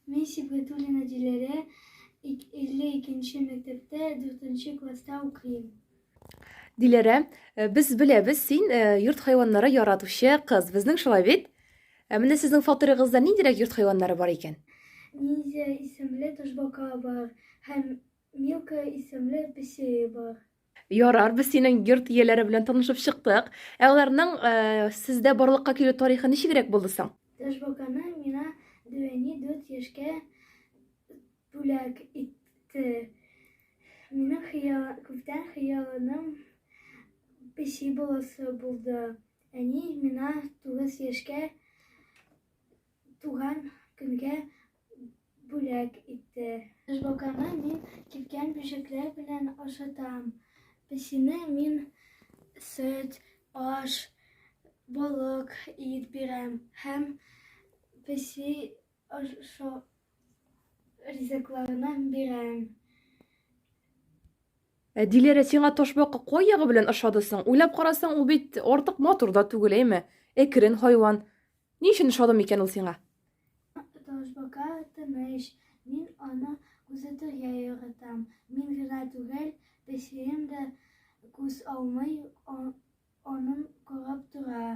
Мин Сибгатуллина Диләрә, 52 нче мәктәптә 4 нче класста укыйм. Диләрә, э, без беләбез, син э, йорт хайваннары яратучы кыз. Безнең шулай бит? Ә менә сезнең фатирыгызда ниндирәк йорт хайваннары бар икән? Ниндзя исемле ташбака бар һәм Милка исемле песие бар. Ярар, без синең йорт ияләре белән танышып чыктык. Ә аларның э, сездә барлыкка килү тарихы ничегрәк булды соң? Ташбаканы миңа Дөвәни дүрт яшькә бүләк итте. Минем хыял, күптән хыялым песи буласы булды. Әни миңа тугыз яшькә туган көнгә бүләк итте. Жбоканы мин кипкән бөҗәкләр белән ашатам. Песине мин сөт, аш, балык ит бирәм һәм песи ашу ризыкларына бирәм. Ә Диләрә сиңа ташбака кай ягы белән ошады соң? Уйлап карасаң, ул бит артык матур да түгел, әйме? Әкрен хайван. Ни өчен ошады микән ул сиңа? Ташбака тыныч, мин аны күзәтергә яратам. Мин генә түгел, песием дә күз алмый, анын карап тора.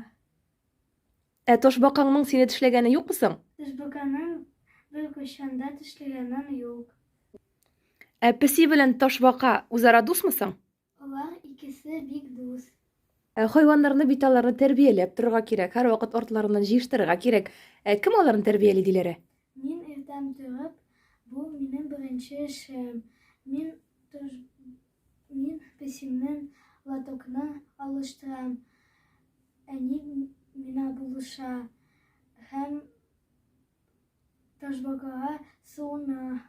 Ә ташбакаңның сине тешләгәне юкмы соң? Ташбаканың бер кашанда тешләгәнем юк. Ә песи белән ташбака үзара дусмы соң? Алар икесе бик дус. Ә хайваннарны бит аларны тәрбияләп торырга кирәк, һәрвакыт артларыннан җыештырырга кирәк. Ә кем аларны тәрбияли, Диләрә? Мин иртән торып, бу минем беренче эшем. Мин тож... мин песимнен лотокны алыштырам. Әни мина булыша һәм Ташбакага суына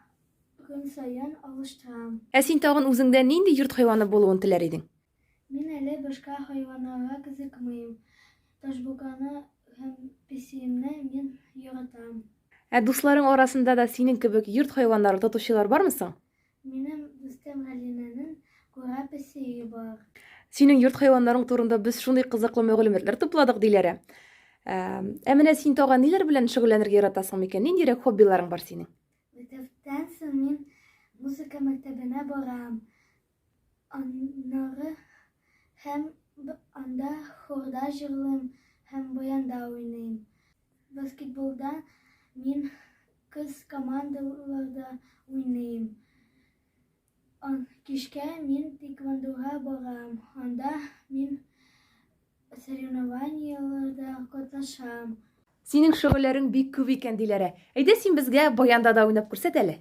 көн саен алыштырам. Ә син тагын үзеңдә нинди йорт хайваны булуын теләр идең? Мин әле башка хайваннарга кызыкмыйм. Ташбаканы һәм песиемне мин яратам. Ә дусларың арасында да синең кебек йорт хайваннарын тотучылар бармы соң? Минем дустым Галинәнең кура песие бар. Синең йорт хайваннарың турында без шундый кызыклы мәгълүматлар тупладык, диләре. Ә ә менә син тагын ниләр белән шөгыльләнергә яратасың микән? Ниндирәк хоббиларың бар синең? Мәктәптән соң мин музыка мәктәбенә барам. Аннары һәм анда хорда җырлыйм һәм баянда уйныйм. Баскетболда мин Кыз командаларда уйныйм. Кичкә мин тейквондога барам, анда мин соревнованиеләрдә катнашам. Синең шөгыльләрең бик күп икән, Диләрә. Әйдә син безгә баянда да уйнап күрсәт әле.